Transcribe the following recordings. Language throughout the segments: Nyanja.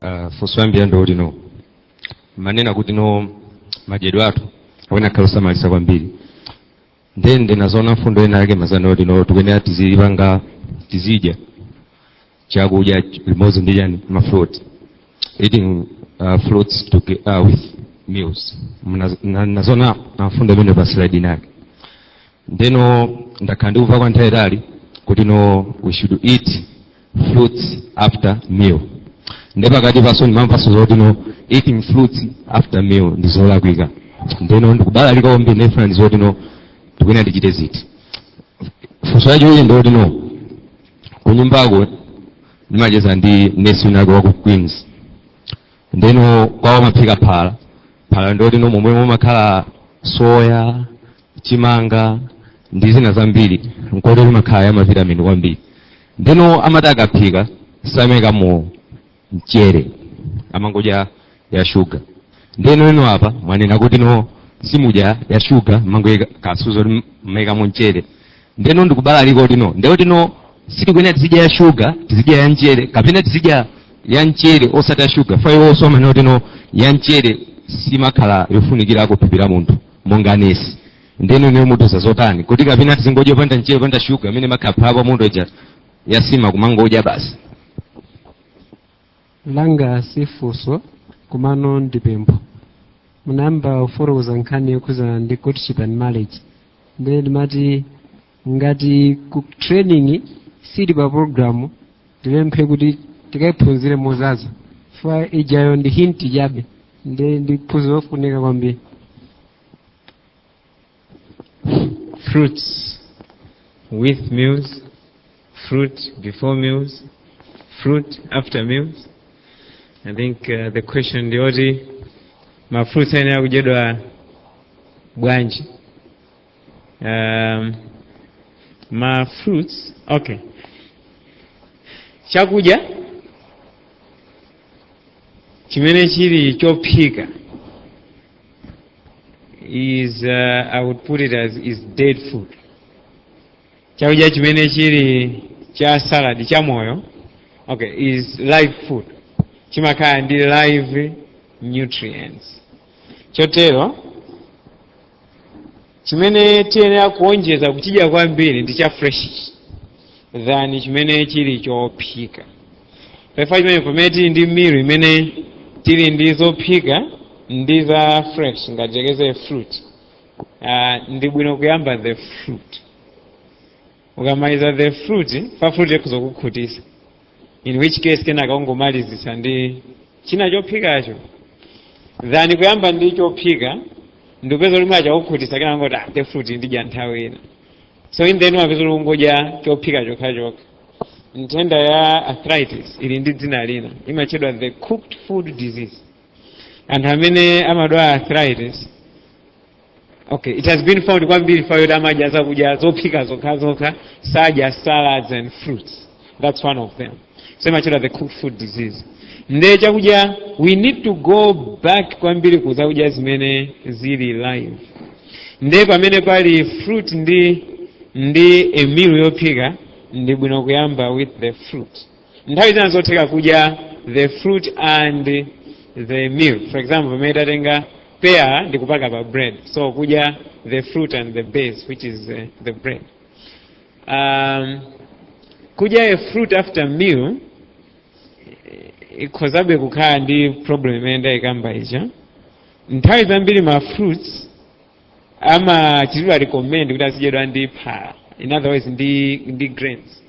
uh, funso yoyambirira ndi yoti no mwanena kuti no madyedwe athu ayenera akhale osamalitsa kwambiri nde ndinazoona mfundo ina yake munanena zoti no tikuyenera tizipanga tizidya chakudya limodzi ndi chani mafruit eating uh, fruits to, uh, with meals Mna- na- nazona mfundo imene pa slide inake ndeno ndakhala ndikumva kwa nthawi yaitali kuti no we should eat fruits after meal nde pakatipaso ndimamvaso zoti no eating fruits after meal ndi zolakwika ndeno ndikubalalika kwambiri ndifuna ndidziwe zoti no ndikuyenera ndichite ziti funso yachiwiri ndi yoti no kunyumbako ndimacheza ndi nesi winako waku Queens ndeno kwawo amaphika phala phala ndi loti no momwe mumakhala soya chimanga ndi zina zambiri zoterozo imakhala ya mavitamini kwambiri ndeno amati akaphika samaikamo mchere amangodya ya shuga ndeno ino apa mwanena kuti no simumadya ya shuga mumangoika kusowa kuti mumaikamo mchere ndeno ndikubalalika kuti no nde kuti no sitikuyenera tizidya ya shuga tizidya ya mchere kapena tizidya ya mchere osati ya shuga chifukwa iwonso amanena kuti no ya mchere siimakhala yofunikira ku thupi la munthu monga nesi nde inuyo mutiuza zotani kuti kapena tizingodya panda mchere panda shuga amene amakapha apo munthu uja azisiya kumangodya basi langa si funso komano ndi pempho munayamba kufotokoza nkhani yokhudzana ndi courtship and marriage ndiye ndimati ngati ku training sili pa program ndipemphe kuti tikaiphunzire mozaza chifukwa ijayo ndi hinti chabe nde ndi phunziro lofunika kwambiri fruits with meals, fruit before meals, fruit after meals. I think uh, the question ndi yoti mafruits ayenera kudyedwa bwanji um, mafruits okay chakudya chimene chili chophika is uh, i would put it as is dead food chakudya chimene chili cha salad cha moyo okay is live food chimakhala ndi live nutrients chotero chimene tiyenera kuonjeza kuchidya kwambiri ndi cha fresh than chimene chili chophika pa chifukwa chimenecho pamene tili ndi meal imene tili ndi zophika ndi za fresh ngati tiyerekeze fruit uh, ndi bwino kuyamba the fruit ukamaliza the fruit pa fruit ikhoza kukukhutisa in which case kenaka ungomalizitsa ndi china chophikacho than kuyamba ndi chophika ndikupeza kuti mwakhuta kukhutisa kenaka ngoti ah, the fruit ndidya nthawi ina so in the end umapeza kuti ukungodya chophika chokhachokha nthenda ya arthritis ili ndi dzina lina imatchedwa the cooked food disease anthu amene amadwala arthritis okay it has been found kwambiri chifukwa choti amadya zakudya zophika zokha zokha sadya salads and fruits that's one of them so imachedwa the cooked food disease nde chakudya we need to go back kwambiri ku zakudya zimene zili live nde pamene pali fruit ndi a meal yophika ndi bwino kuyamba with the fruit nthawi zina zotheka kudya the fruit and the meal for example pamene tatenga peyala ndi kupaka pa bread so kudya the fruit and the base which is uh, the bread um, kudya a fruit after meal eh, ikhozabe kukhala ndi problem imene ndayikamba ija nthawi zambiri ma fruits amachitidwa recommend kuti azidyedwa ndi phala in other words ndi, ndi grains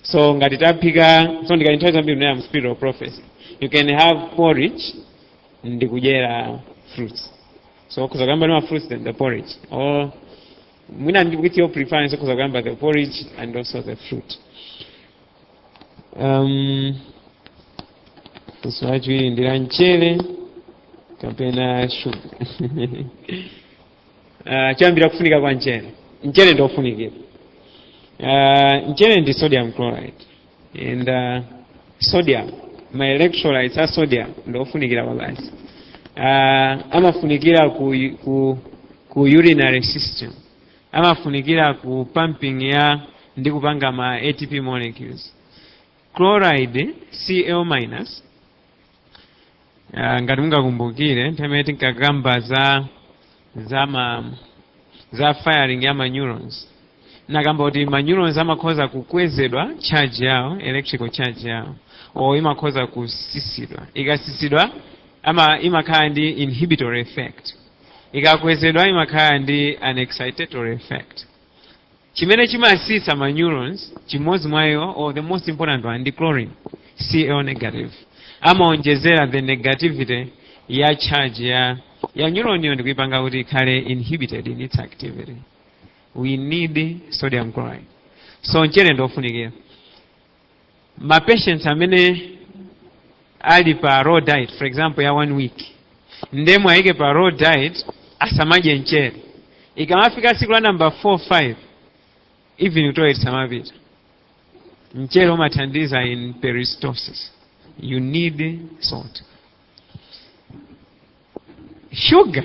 so ngati taphika so ndikati nthawi zambiri mnena mu spirit of prophecy you can have porridge ndi kudyera fruits so ukhoza kuyamba ndi ma fruits then the porridge or mwina ndi with your preference ukhoza kuyamba the porridge and also the fruit um, funso lachiwiri ndi la mchere kapena shuga Uh, choyambira kufunika kwa mchere mchere ndi ofunikira uh, mchere ndi sodium chloride and uh, sodium ma electrolytes a sodium ndi ofunikira kwabasi uh, amafunikira ku, ku, ku urinary system amafunikira ku pumping ya ndi kupanga ma atp molecules chloride cl minus Ah, ngati mungakumbukire nthawi imene ndinkakamba za za ma za firing ya ma neurons ndinakamba kuti ma neurons amakhoza kukwezedwa charge yawo electrical charge yawo or imakhoza kusisidwa ikasisidwa ama imakhala ndi inhibitory effect ikakwezedwa imakhala ndi an excitatory effect chimene chimatsitsa ma neurons chimodzi mwa iwo or the most important one ndi chlorine cl negative amaonjezera the negativity ya charge ya ya neuron yo ndikuipanga kuti ikhale inhibited in its activity we need sodium chloride so mchere ndiofunikira ma patients amene ali pa raw diet for example ya one week nde mwayike pa raw diet asamadye mchere ikamafika siku la namba 4 5 even kutoilet sumapita mchere umathandiza in peristalsis you need salt sugar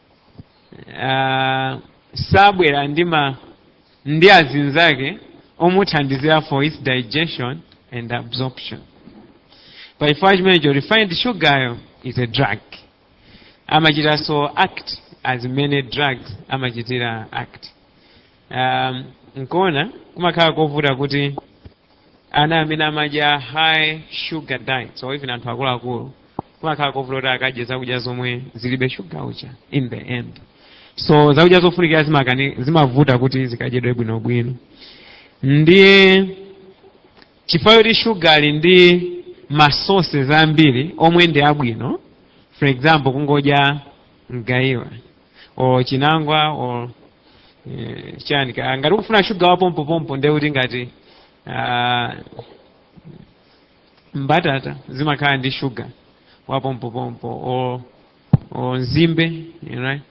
uh, sabwera ndi ma ndi azinzake omuthandizira for its digestion and absorption pa chifukwa chimenecho refined sugaryo is a drug amachitanso act as mmene drugs amachitira act um, nkuona kumakhala kovuta kuti ana amene amadya high sugar diets or even anthu akuluakulu kumakhala kovuta kuti akadye zakudya zomwe zilibe shuga uja in the end so zakudya zofunikira zimakani zimavuta kuti zikadyedwe bwinobwino nde chifukwa choti shuga ali ndi masources ambiri omwe ndi abwino for example kungodya mgaiwa or chinangwa or eh, chani ka- ngati ukufuna shuga wa pompo pompo nde kuti ngati ah, mbatata zimakhala ndi shuga wa pompo pompo or, or nzimbe you know, right?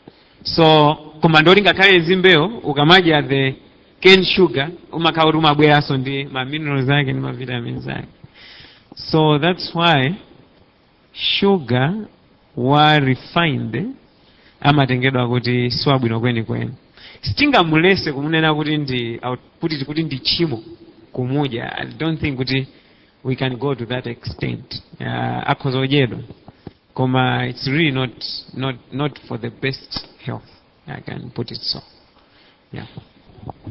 so koma ndikuti ngakhale nzimbeyo ukamadya the cane sugar umakhala kuti umabweranso ndi ma minerals ake ndi ma vitamins ake so that's why shuga wa refined amatengedwa kuti siwabwino kwenikweni sitingamulese kumunena kuti ndi au- kuti kuti ndi tchimo kumudya i don't think kuti we can go to that extent uh, akhoza kudyedwa koma it's really not, not, not for the best health i can put it so yeah.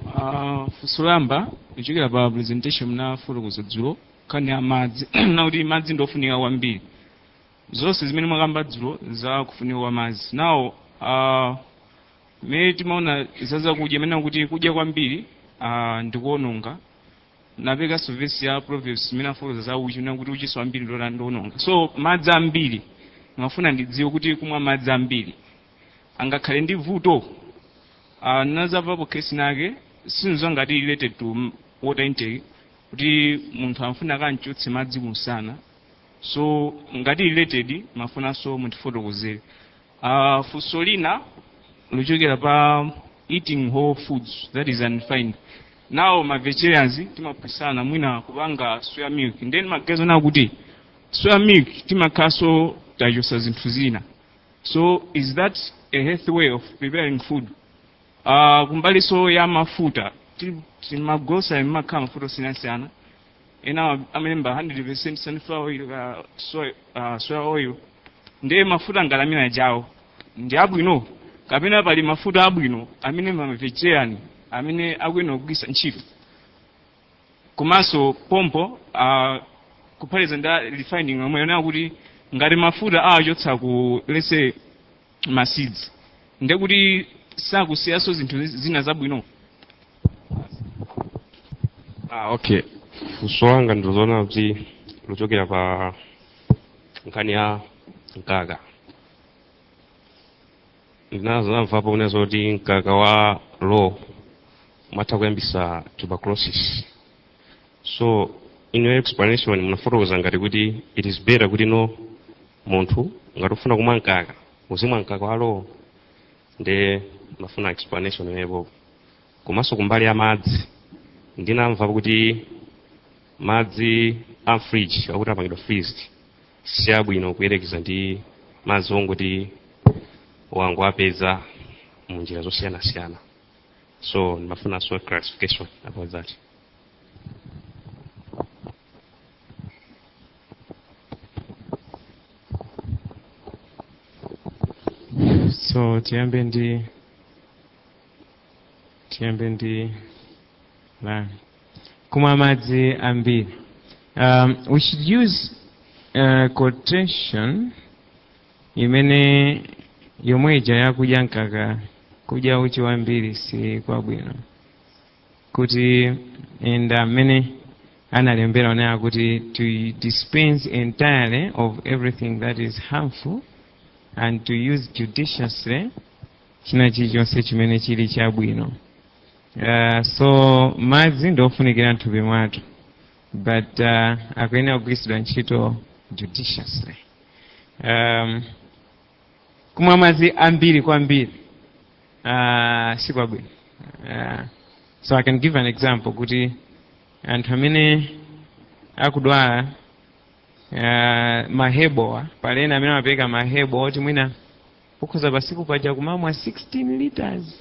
Uh, funso loyamba kuchokera pa presentation munafotokoza dzulo nkhani ya madzi na kuti madzi ndi ofunika kwambiri ndi zonse zimene mwakamba dzulo za kufunika kwa madzi nawo uh, mmene timaona za zakudya mmene kuti kudya kwambiri uh, ndikuononga napekanso vesi ya proverbs imene imafotokoza za uchi na kuti uchinso wambiri ndota ndiononga so madzi ambiri ndimafuna ndidziwe kuti kumwa madzi ambiri angakhale ndi vuto uh, ndinadzamvapo kesi inayake sindidziwa ngati ili related to m- water intake kuti munthu amafuna akamchotse madzi kumsana so ngati ili related ndimafunanso mutifotokozere uh, funso lina lochokera pa eating whole foods that is unrefined nano ma vegetarians timaphunzitsana mwina kupanga soya milk nde ndimaganiza ona kuti soya milk timakhalanso tachosa zinthu zina so is that a healthy way of preparing food Uh, kumbaliso ya mafuta magrocery mmakhala mafuta osiyanasiyana ena amalemba 100% sunflower oil uh, soy, uh, soya oil ndiye mafuta ngalamira jawo ndi abwino kapena pali mafuta abwino amene mamvegerani amene akuyenera kugwiritsa ntchito komanso pompo uh, kuphatiza ndi refining yomwe yonena kuti ngati mafuta awachotsa ku lese ma seeds ndiye kuti sakusiyanso zinthu zina zabwino Ah, okay. Funso langa ndilonena kuti lochokera pa nkhani ya mkaka. Ndinazamvapo kunena zoti mkaka wa raw umatha kuyambitsa tuberculosis. So in your explanation munafotokoza ngati kuti it is better kuti no munthu ngati ufuna kumwa mkaka uzimwa mkaka wa raw-wo nde ndimafuna explanation pamenepo komanso kumbali ya madzi ndinamva kuti madzi a mfridge akuti apangidwa freezed si abwino kuyerekeza ndi madzi ongoti wangowapeza mu njira zosiyanasiyana so ndimafunanso clarification about that so tiyambe ndi tiyambe ndi la kumwa madzi ambiri um, we should use uh, quotation imene yomweija yakudya mkaka kudya uchi wambiri si kwabwino kuti and amene analembera ananena kuti to dispense entirely of everything that is harmful and to use judiciously china chilichonse chimene chili chabwino uh, so madzi ndi ofunikira mthupi mwathu but uh, akuyenera kugwiritsidwa ntchito judiciously um, kumwa madzi ambiri kwambiri uh, si kwabwino uh, so i can give an example kuti anthu amene akudwala uh, mahebowa pali ena amene amapereka mahebo oti mwina ukhoza pasiku paja kumamwa 16 liters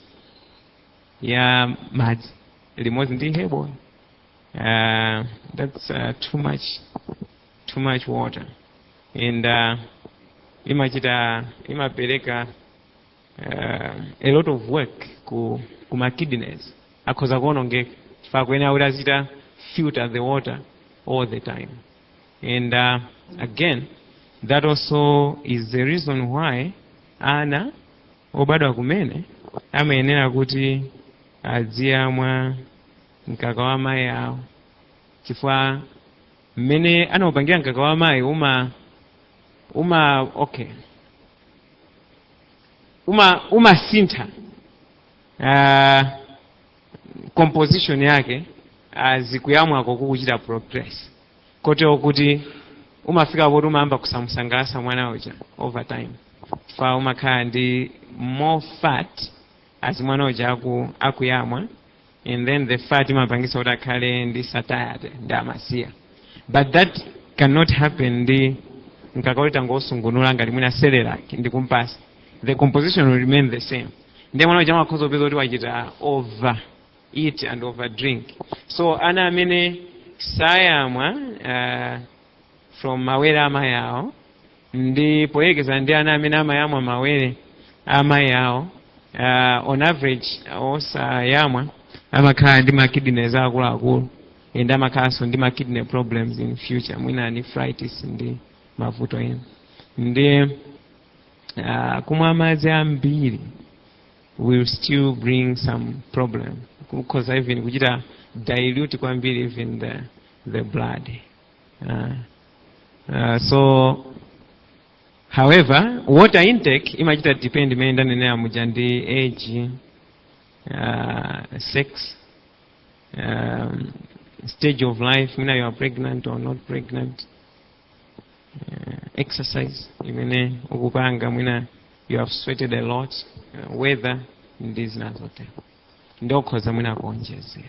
ya madzi limodzi ndi hebo uh, that's uh, too much too much water and uh, imachita imapereka uh, a lot of work ku, ku ma kidneys akhoza kuonongeka chifukwa akuyenera kuti azichita filter the water all the time and uh, again that also is the reason why ana obadwa kumene amayenera kuti aziyamwa mkaka wa mayi awo chifukwa mmene anaupangira mkaka wa amayi uma uma okay uma umasintha uh, composition yake uh, as kuyamwako kukuchita progress kotero kuti umafika poti umayamba kusamusangalatsa mwana uja over time fa umakhala ndi more fat as mwana uja aku, akuyamwa and then the fat imapangisa kuti akhale ndi satiety ndiye amasiya but that cannot happen ndi mkaka woti tangosungunula ngati mwina Cerelac ndi kumpatsa the composition will remain the same ndiye mwana uja amakhoza kupeza kuti wachita over eat and over drink so ana amene sayamwa uh, from mawere a mayi awo ndi poyerekeza ndi ana amene amayamwa mawere a amayi awo uh, on average osayamwa amakhala ndi ma kidneys akuluakulu and amakhalanso ndi ma kidney problems in future mwina nephritis ndi mavuto ena ndiye uh, kumwa madzi ambiri will still bring some problem kukhoza even kuchita dilute kwambiri even the, the blood Uh, uh, so however water intake imachita depend mmene ndanenera muja ndi age uh, sex um, stage of life mwina you are pregnant or not pregnant uh, exercise imene ukupanga mwina you have sweated a lot uh, weather ndi zina zotero ndiye ukhoza mwina kuonjezera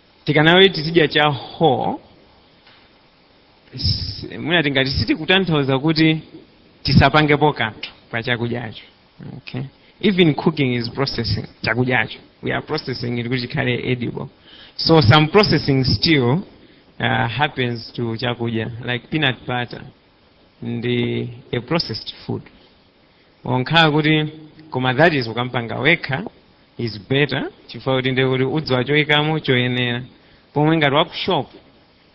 tikanena kuti tizidya cha whole s- mwina tingati sitikutanthauza kuti tisapangepo kanthu pa chakudyacho okay. even cooking is processing chakudyacho we are processing it kuti chikhale edible so some processing still uh, happens to chakudya like peanut butter ndi a processed food Ngakhale kuti koma that is ukampanga wekha is better chifukwa kuti ndiye kuti udziwa choikamo choyenera pomwe ngati wa ku shop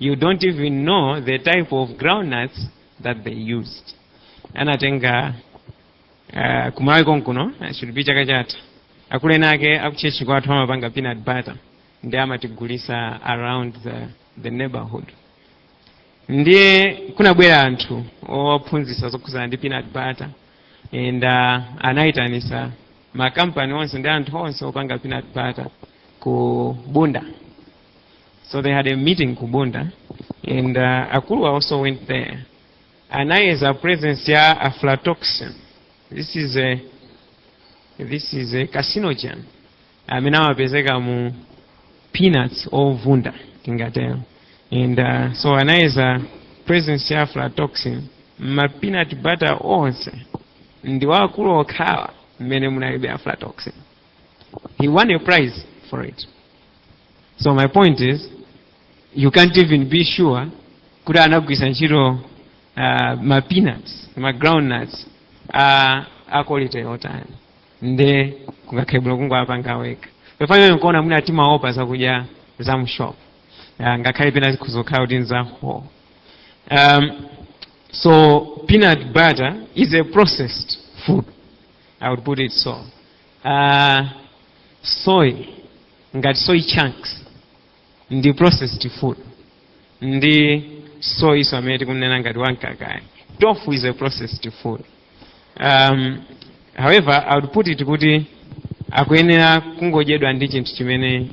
you don't even know the type of groundnuts that they used anatenga uh, kumalawi konkuno should be chaka chatha akuleni ake akuchechi kwathu amapanga peanut butter ndiye amatigulitsa around the, the neighborhood ndiye kunabwera anthu ophunzitsa zokhudzana ndi peanut butter and uh, anayitanisa makampani onse ndi anthu onse opanga peanut butter ku bunda so they had a meeting ku bunda and uh, akulu a also went there anayeza presence ya aflatoxin this is a, this is a carcinogen amene amapezeka mu peanuts ovunda tingatero and uh, so anayeza presence ya aflatoxin mma peanut butter onse ndi wa akulu okhawa mmene munalibe aflatoxin he won a prize for it so my point is you can't even be sure kuti anagwiritsa ntchito uh, ma peanuts ma groundnuts uh, a quality yotani nde kungakhale bwino kungowapanga wekha pofanana nkuona mwina timaopa zakudya za mshop uh, ngakhale pena zikhoza kukhala kuti nzaho um, so peanut butter is a processed food i would put it so uh, soy ngati soy chunks ndi processed food ndi soyiso amene tikumnena ngati wamkakayi tofu is a processed food um, however i would put it kuti akuyenera kungodyedwa ndi chinthu chimene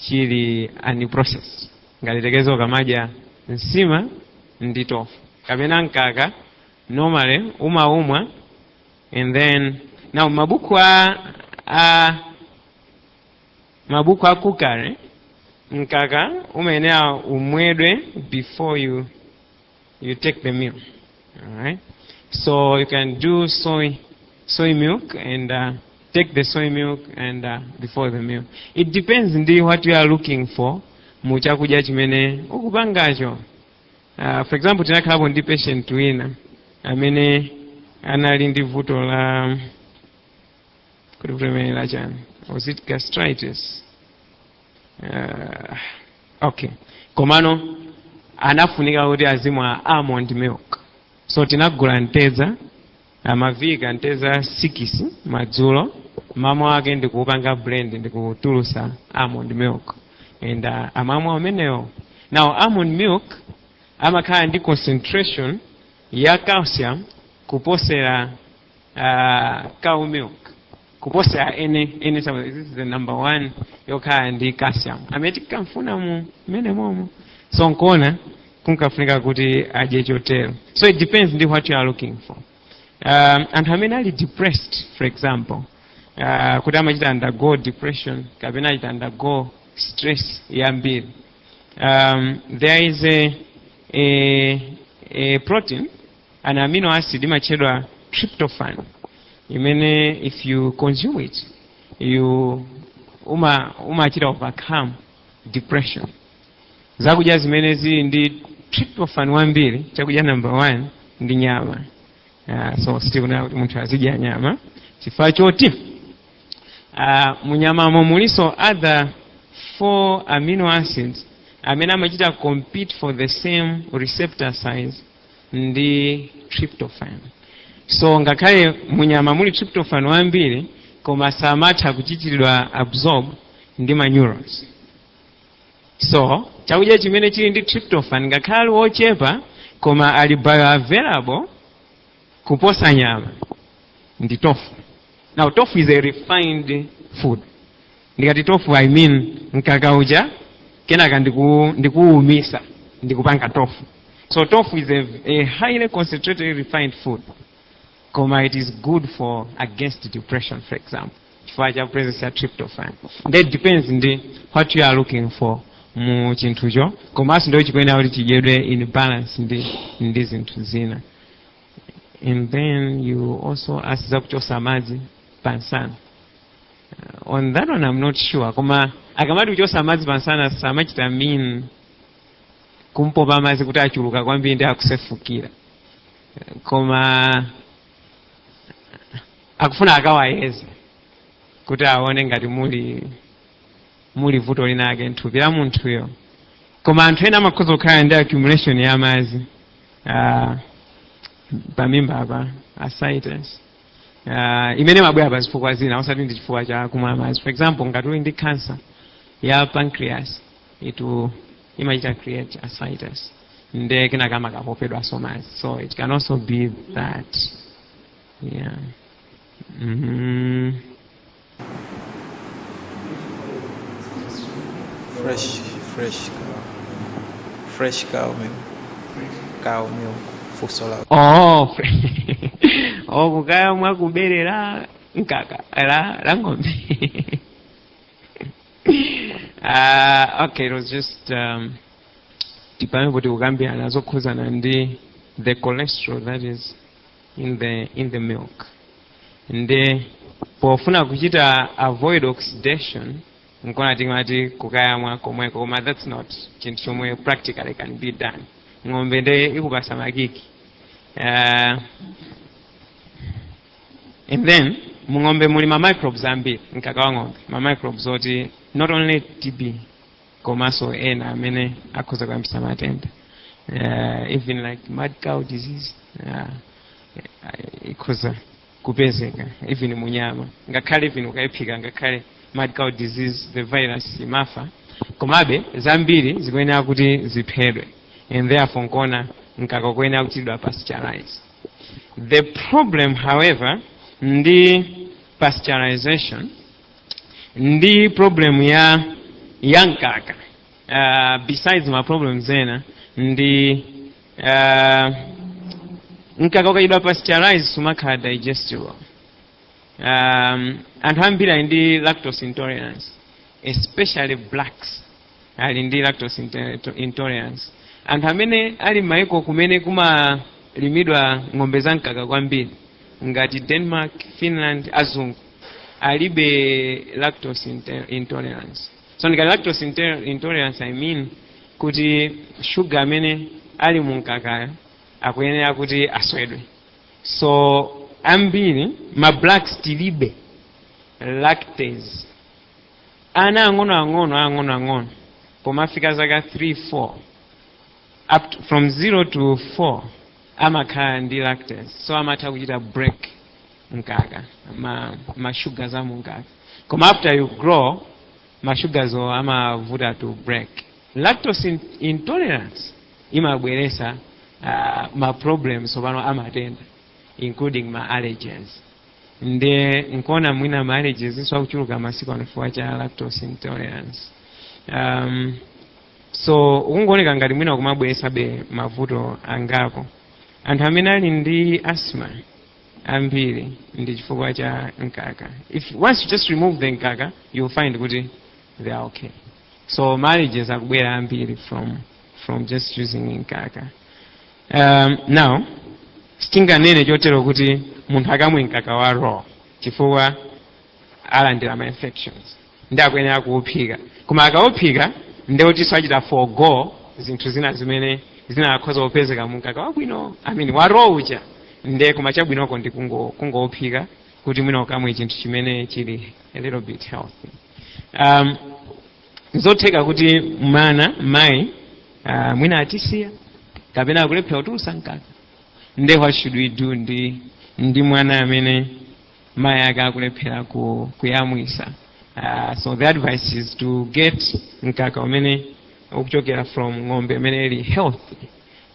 chili unprocessed ngati tikudziwa ukamadya nsima ndi tofu kapena mkaka normally umaumwa and then now mabuku a, a Mabuku a cookery, mkaka umayenera umwedwe before you you take the meal. Alright? So you can do soy soy milk and uh, take the soy milk and uh, before the meal. It depends ndi what you are looking for mu chakudya chimene ukupangacho. Uh, for example tinakhalapo ndi patient wina amene anali ndi vuto la kuti kulemerera chani was it gastritis uh, okay komano anafunika kuti azimwa almond milk so tinagula mtedza amavika mtedza sikisi madzulo mmawa wake ndikuupanga blend ndikutulusa almond milk and uh, amamwa umenewo now almond milk amakhala ndi concentration ya calcium kuposera uh, cow milk kuposa ene ene number one yokhala ndi calcium amene tikamfuna mu mmene momo so nkuona kunkafunika kuti adye chotero so it depends ndi what you are looking for um, anthu amene ali depressed for example uh, kuti amachita undergo depression kapena achita undergo stress yambiri um, there is a, a, a protein An amino acid imatchedwa tryptophan imene if you consume it you uma umachita overcome depression. Zakudya zimene zili ndi tryptophan wambiri, chakudya number one ndi nyama. Uh, so sitikunena kuti munthu azidya nyama chifukwa choti uh, munyamamo mulinso other four amino acids amene amachita compete for the same receptor sites ndi tryptophan so ngakhale munyama muli tryptophan wambiri koma samatha kuchitiridwa absorb ndi ma neurons so chakudya chimene chili ndi tryptophan ngakhale ali wochepa koma ali bioavailable kuposa nyama ndi tofu now tofu is a refined food ndikati tofu i mean mkaka uja kenaka ndiku ndikuwumisa ndikupanga tofu so tofu is a, a highly concentrated refined food koma it is good for against depression for example chifukwa cha presence ya tryptophan that depends ndi what you are looking for mu chinthucho komanso ndiyo chikuyenera kuti chidyedwe in balance ndi ndi zinthu zina and then you also ask za kuchosa madzi pansana on that one I'm not sure koma akamati kuchosa madzi pansana samachita mean kumpopa madzi kuti achuluka kwambiri ndi akusefukira koma akufuna akawayeze kuti aone ngati muli muli vuto linake nthupi la munthuyo koma anthu ena amakhoza kukhala ndi accumulation ya madzi ah, pamimba apa ascites uh, imene imabwera pa zifukwa zina osati ndi chifukwa cha kumwa madzi for example ngati uli ndi cancer ya pancreas itu imachita create ascites nde kenaka amakapopedwanso madzi so it can also be that yeah mm -hmm. Fresh, fresh cow. Fresh cow milk. Cow milk. Funso la oh fre- oh kukaya mwa kubere la mkaka la la ng'ombe uh, okay it was just um, ndi pamenepo tikukambirana zokhudzana ndi the cholesterol that is in the in the milk nde pofuna kuchita avoid oxidation nkona tingati kukayamwa komweko koma that's not chinthu chomwe practically can be done ng'ombe ndi ikupasa makiki uh, and then mung'ombe muli ma microbes ambiri mkaka wa ng'ombe ma microbes oti not only tb komanso ena amene akhoza kuyambisa matenda uh, even like mad cow disease uh, ikhoza kupezeka even munyama ngakhale even ukayiphika ngakhale mad cow disease the virus imafa komabe zambiri zikuyenera kuti ziphedwe and therefore nkuona mkaka ukuyenera kuchitidwa pasteurize the problem however ndi pasteurization ndi problem ya ya mkaka uh, besides ma problems ena ndi uh, mkaka ukachitidwa pasteurize sumakhala digestible um, anthu ambiri ali ndi lactose intolerance especially blacks ali ndi lactose intolerance anthu amene ali m'maiko kumene kumalimidwa ng'ombe za mkaka kwambiri ngati denmark finland azungu alibe lactose intolerance so ndikati lactose intolerance i mean kuti shuga amene ali mu mkakayo akuyenera kuti aswedwe so ambiri ma blacks tilibe lactase ana ang'onoang'ono ang'onoang'ono pomafika zaka 3 4 up to, from 0 to 4 amakhala ndi lactase so amatha kuchita break mkaka ma, ma sugars a mumkaka koma after you grow ma sugars wo amavuta to break lactose in, intolerance imabweresa uh, ma problems angapo amatenda including ma allergens nde nkuona mwina ma allergies so akuchuluka masiku ano chifukwa cha lactose intolerance um, so kukungooneka ngati mwina umabweresabe mavuto angapo anthu amene ali ndi asthma ambiri ndi chifukwa cha mkaka if once you just remove the mkaka you'll find kuti they are okay so ma allergies akubwera ambiri from from just using mkaka um, now sitinganene chotero kuti munthu akamwe mkaka wa raw chifukwa alandira ma infections nde akuyenera kuuphika koma akauphika ndeutinso achita forgo zinthu zina zimene zinakakhoza kupezeka mu mkaka wabwino amene wa raw uja nde koma chabwinoko ndi kungo- kungouphika kuti mwina ukamwe chinthu chimene chili a little bit healthy um, nzotheka kuti mwana mai uh, mwina atisiya kapena akulephera kutulutsa mkaka nde what should we do ndi ndi mwana amene mai ake akulephera ku, kuyamwitsa uh, so the advice is to get mkaka umene ukuchokera from ng'ombe imene ili healthy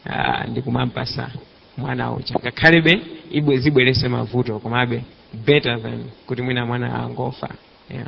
uh, ndi kumampatsa mwana uja ngakhalebe ibwe zibweretse mavuto komabe better than kuti mwina mwana angofa yeah.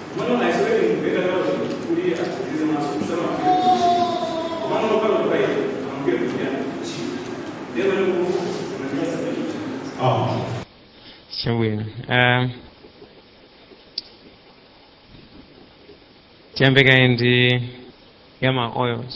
Chabwino. Ah, Tiyambekaye ndi ya ma oils.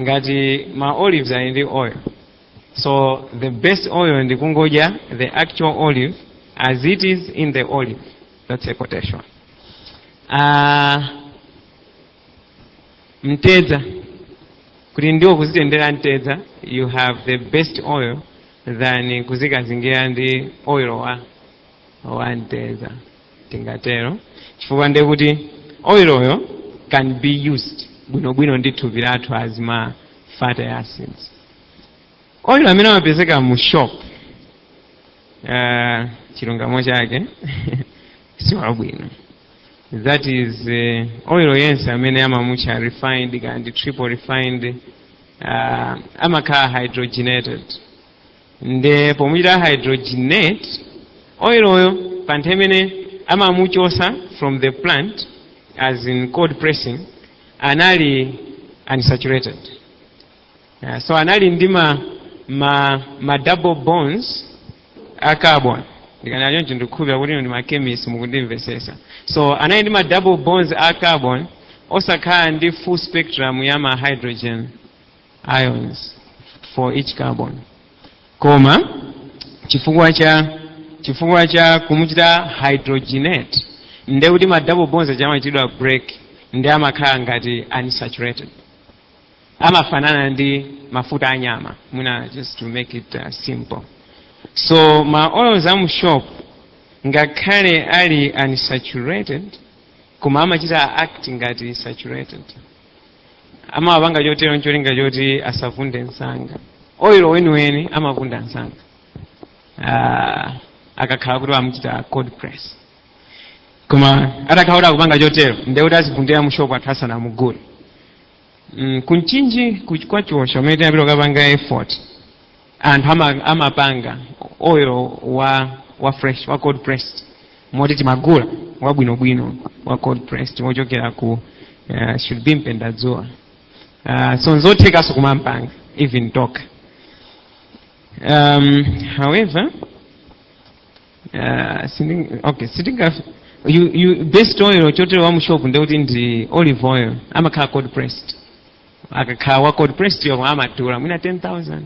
ngati ma olives ali ndi oil so the best oil ndi kungodya the actual olive as it is in the olive that's a quotation uh, mtedza kuti ndiwo kuzitendera mtedza you have the best oil than kuzikazingira ndi oil wa wa mtedza tingatero chifukwa ndiye kuti oiloyo can be used bwinobwino ndi thupi lathu as ma fatty acids oilo amene amapezeka mu shop uh, chilungamo chake siwabwino that is uh, oil yense amene amamutcha refined kaya ndi triple refined uh, amakhala hydrogenated nde pomuchita hydrogenate oiloyo pa nthawi imene amamuchotsa from the plant as in cold pressing anali unsaturated uh, so anali ndi ma, ma, ma double bonds a carbon ndikanena choncho ndikukhulupira kuti ndi machemist mukundimvetsetsa so anali ndi ma double bonds a carbon osakhala ndi full spectrum ya ma hydrogen ions for each carbon koma chifukwa cha chifukwa cha kumuchita hydrogenate nde kuti ma double bonds aja amachitidwa break nde amakhala ngati unsaturated amafanana ndi mafuta anyama mwina just to make it uh, simple so ma oils amu shop ngakhale ali unsaturated koma amachita act ngati saturated amawapanga chotero ncholinga choti asavunde msanga oilo weniweni amavunda msanga Ah, akakhala kuti amuchita cold press koma atakhala kuti akupanga chotero ndiye kuti azivundira mushopu anthu asanamugule mm, ku Mchinji kuch- kwa Chiosha umene tinapita kukapanga effort anthu ama, amapanga oil wa fresh wa cold pressed moti timagula wabwinobwino wa cold pressed wochokera ku uh, should be mpendadzuwa uh, so nzothekanso kumampanga even tokha um, however uh, sinding, okay sitinga you, you best oil chotero wa mushopu ndekuti ndi olive oil amakhala cold pressed akakhala wa cold pressed yomwe amadula mwina 10000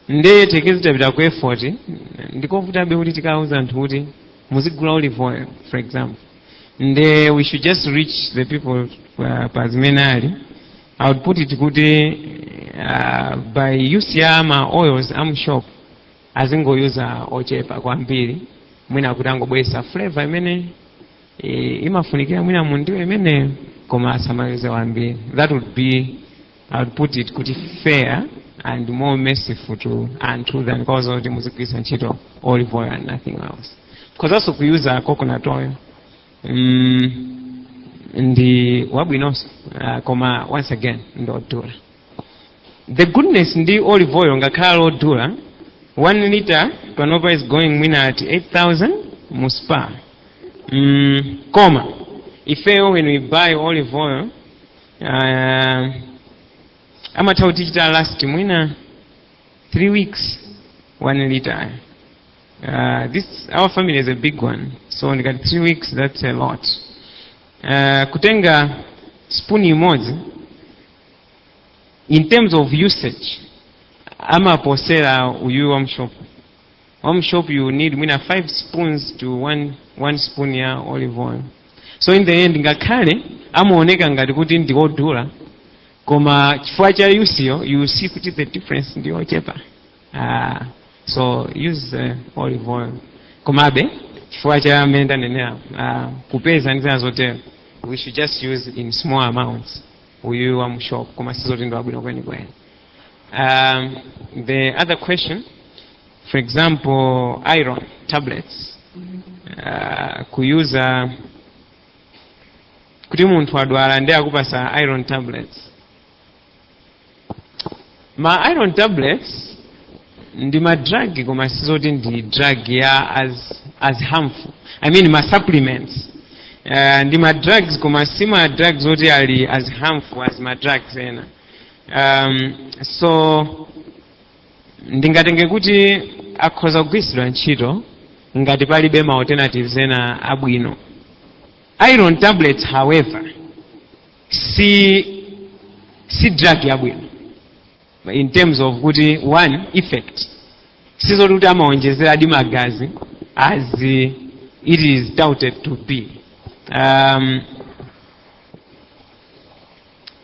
nde it takes it apita ku effort ndikovutabe kuti tikauza anthu kuti muzigula olive oil for example nde we should just reach the people uh, pa zimene ali i would put it kuti uh, by use ya ma oils amshop azingoyuza ochepa kwambiri mwina kuti angobwesa flavor imene e, imafunikira mwina mu ndiwo imeneyo koma asamalize wambiri that would be i would put it kuti fair and more merciful to anthu than kuwauza kuti muzigwiritsa ntchito olive oil and nothing else khozanso kuyuza coconut oil mm, ndi wabwinonso uh, koma once again ndodula the goodness ndi olive oil ngakhale ali odula 1 liter panopa is going mwina at 8000 mu spa mm, koma ifeyo when we buy olive oil uh, amatha kutichita last mwina 3 weeks 1 liter uh, this our family is a big one so ndikati 3 weeks that's a lot uh, kutenga spoon imodzi in terms of usage amaposera uyuyu wa mshop wa mshop you need mwina 5 spoons to 1 one spoon ya olive oil so in the end ngakhale amaoneka ngati kuti ndi odula koma chifukwa cha usage you see kuti the difference ndi ochepa ah, so use uh, olive oil komabe chifukwa cha amene ndanenera ah, kupeza ndi zina zotero we should just use in small amounts uyu wa mu shop koma sizoti ndi wabwino kwenikweni um, the other question for example iron tablets uh, kuyuza kuti munthu wadwala ndi akupasa iron tablets ma iron tablets ndi ma drug koma sizoti ndi drug ya as, as harmful i mean ma supplements uh, ndi ma drugs koma si ma drugs oti ali as harmful as ma drugs ena um, so ndingatenge kuti akhoza kugwiritsidwa ntchito ngati palibe ma alternatives ena abwino iron tablets however si si drug yabwino in terms of kuti one effect sizoti kuti amaonjezera di magazi as it is touted to be um,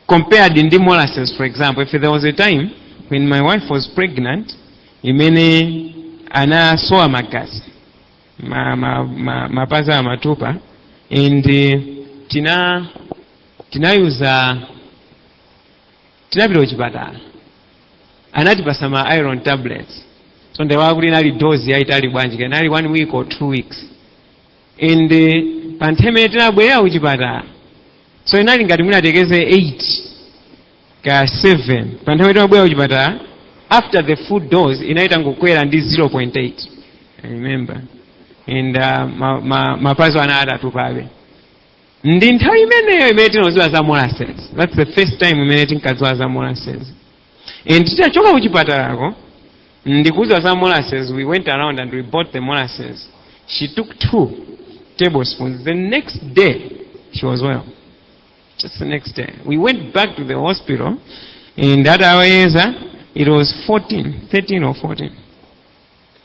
compared ndi molasses for example if there was a time when my wife was pregnant mmene anasowa magazi ma, ma, ma, mapazi amatupa and titamuyeza tinapita kuchipatala anatipatsa ma iron tablets so ndaiwala kuti inali dozi yaitali bwanji kaya inali one week or two weeks and eh, pa nthawi imene tinabwerera kuchipatala so inali ngati mwina tiyerekeze 8 kaya 7 pa nthawi timabwera kuchipatala after the full dose inali itangokwera ndi 0.8 I remember and uh, ma, ma, mapazi anali atatupabe ndi nthawi imeneyo imene tinadziwa za molasses that's the first time imene tinkadziwa za molasses and titachoka kuchipatalako ndikudziwa za molasses we went around and we bought the molasses she took two tablespoons the next day she was well Just the next day. We went back to the hospital and atawayeza it was 14, 13 or 14.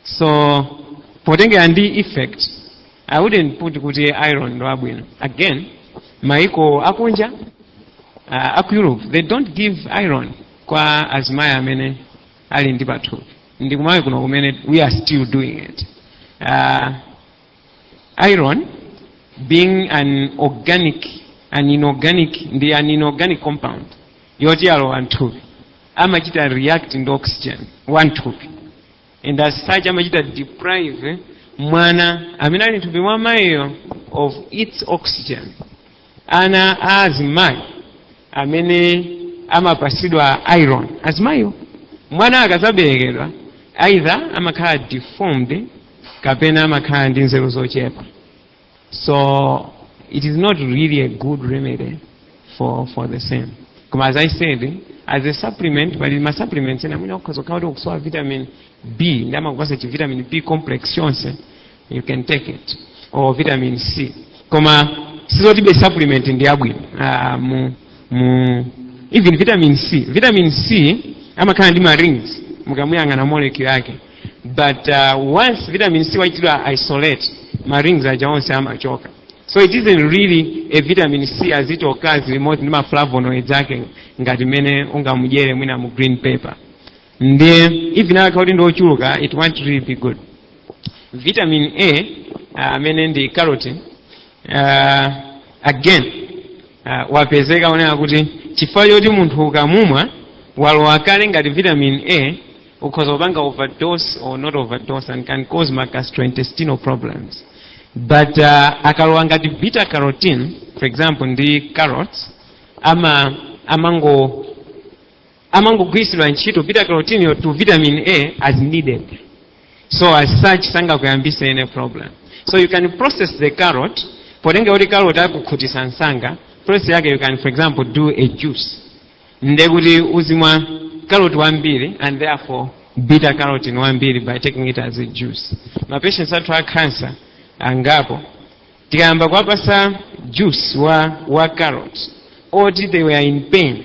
So potengera ndi effect I wouldn't put kuti iron ndi abwino. Again, maiko akunja uh, aku Europe they don't give iron kwa azimayi amene ali ndi pathupi. Ndi ku Malawi kuno kumene we are still doing it. Uh, Iron being an organic an inorganic ndi an inorganic compound yoti akalowa mthupi amachita react ndi oxygen wa mthupi and as such amachita deprive mwana amene ali mthupi mwa mayiyo of its oxygen ana a azimayi amene amapatsidwa iron azimayiwo mwana akazaberekedwa either amakhala deformed kapena amakhala ndi nzeru zochepa so it is not really a good remedy for, for the same koma as i said as a supplement pali ma supplements ena mwina ukhoza kukhala kuti ukusowa vitamin b ndi amakupatsa chi vitamin b complex chonse you can take it or vitamin c koma sizotibe supplement ndi yabwino ah, mu, mu, even vitamin c vitamin c amakhala ndi ma rings mukamuyang'ana molecule yake but uh, once vitamin c wachitidwa isolate ma rings aja onse amachoka so it isn't really a vitamin c as it occurs limodzi ndi ma flavonoids ake ngati mmene ungamudyere mwina mu green pepper ndiye even akakhala kuti ndi ochuluka it won't really be good vitamin a uh, amene ndi carotene uh, again uh, wapezeka onena kuti chifukwa choti munthu ukamumwa walowa kale ngati vitamin a ukhoza kupanga overdose or not overdose and can cause ma gastrointestinal problems but uh, akalowa ngati beta carotene for example ndi carrots ama amango amangogwiritsidwa ntchito beta carotene to vitamin a as needed so as such sangakuyambise any problem so you can process the carrot potengera kuti carrot amakhutisa msanga process yake you can for example do a juice nde kuti uzimwa carrot wambiri and therefore beta carotene wambiri by taking it as a juice ma patients athu a cancer angapo tikayamba kuwapasa juice wa, wa carrot oti they were in pain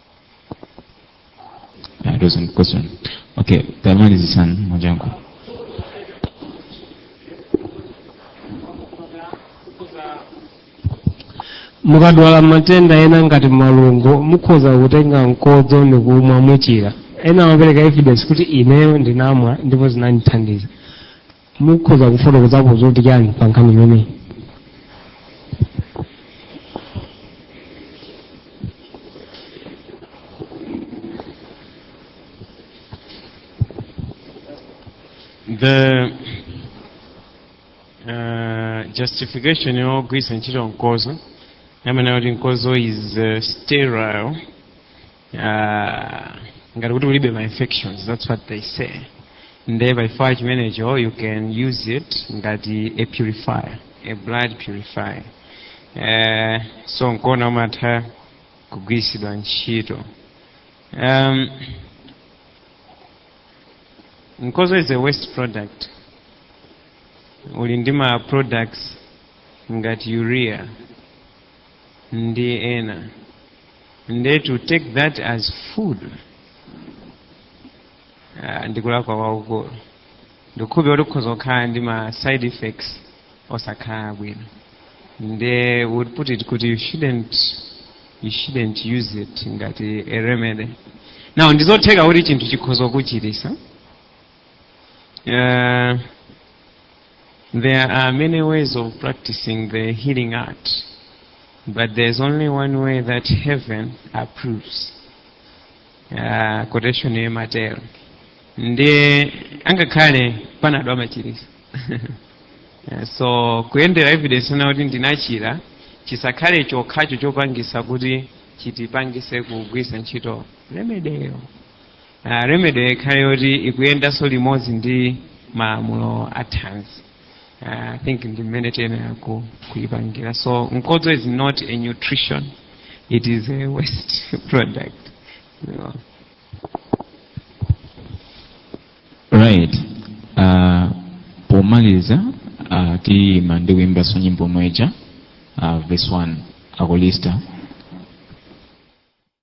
Yeah, it was a question. Okay, the line is Isan Majanko. mukadwala matenda ena ngati malungo mukhoza kutenga mkodzo ndikumwa muchira ena amapereka evidence kuti ineyo ndinamwa ndipo zinandithandiza mukhoza kufotokozapo zoti chani pa nkhani imeneyi the uh, justification yogwiritsa ntchito mkozo amanena kuti mkozo is uh, sterile Ah, ngati kuti ulibe ma infections that's what they say nde pachifukwa chimenecho you can use it ngati a purifier a blood purifier eh, so nkuona umatha kugwiritsidwa ntchito um, nkozo is a waste product uli ndi ma products ngati urea ndi ena nde to take that as food ah, ndikulakwa kwakukulu ndikhulupirira kuti kukhoza kukhala ndi ma side effects osakhala bwino nde would put it kuti you shouldn't you shouldn't use it ngati a remedy now ndizotheka kuti chinthu chikhoza kuchirisa Uh, there are many ways of practicing the healing art, but there's only one way that heaven approves. Uh, quotation ya Mateo. Ndiye angakhale panabwera machiriso. Eh, so kuyendera evidence yonena kuti ndinachira chisakhale chokhacho chopangisa kuti chitipangise kugwirisa ntchito remedyyo Uh, remedy ikhale yoti ikuyendanso limodzi ndi malamulo a thanzi uh, i think ndi mmene tiyenera ku- kuyipangira so mkodzo is not a nutrition it is a waste product so, right uh, pomaliza uh, tiyima ndi kuyimbanso nyimbo yomwe ija uh, verse 1 akolista